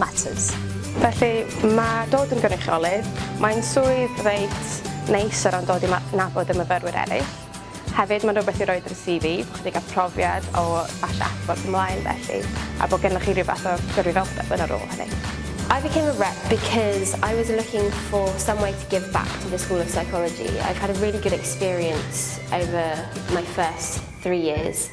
matters. Felly, mae dod yn gynrychiolydd, mae'n swydd reit neis o ran dod i ma- nabod y myfyrwyr eraill. Hefyd, mae'n rhywbeth i roi dros CV, bod chi wedi cael profiad o falle adborth ymlaen felly, a bod gennych chi rhyw fath o gyrwyddoldeb yn y rôl hynny. I became a rep because I was looking for some way to give back to the School of Psychology. I've had a really good experience over my first three years.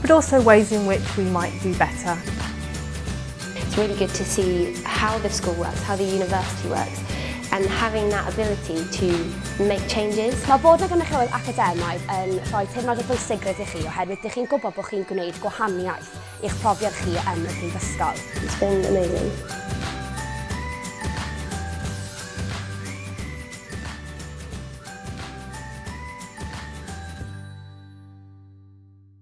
But also ways in which we might do better. It's really good to see how the school works, how the university works, and having that ability to make changes. Mae bod na gynrychiolwyr academaidd yn rhoi teimlad o bwysigrwydd i chi oherwydd dych chi'n gwybod bod chi'n gwneud gwahaniaeth i'ch profiad chi yn y prifysgol. It's been amazing.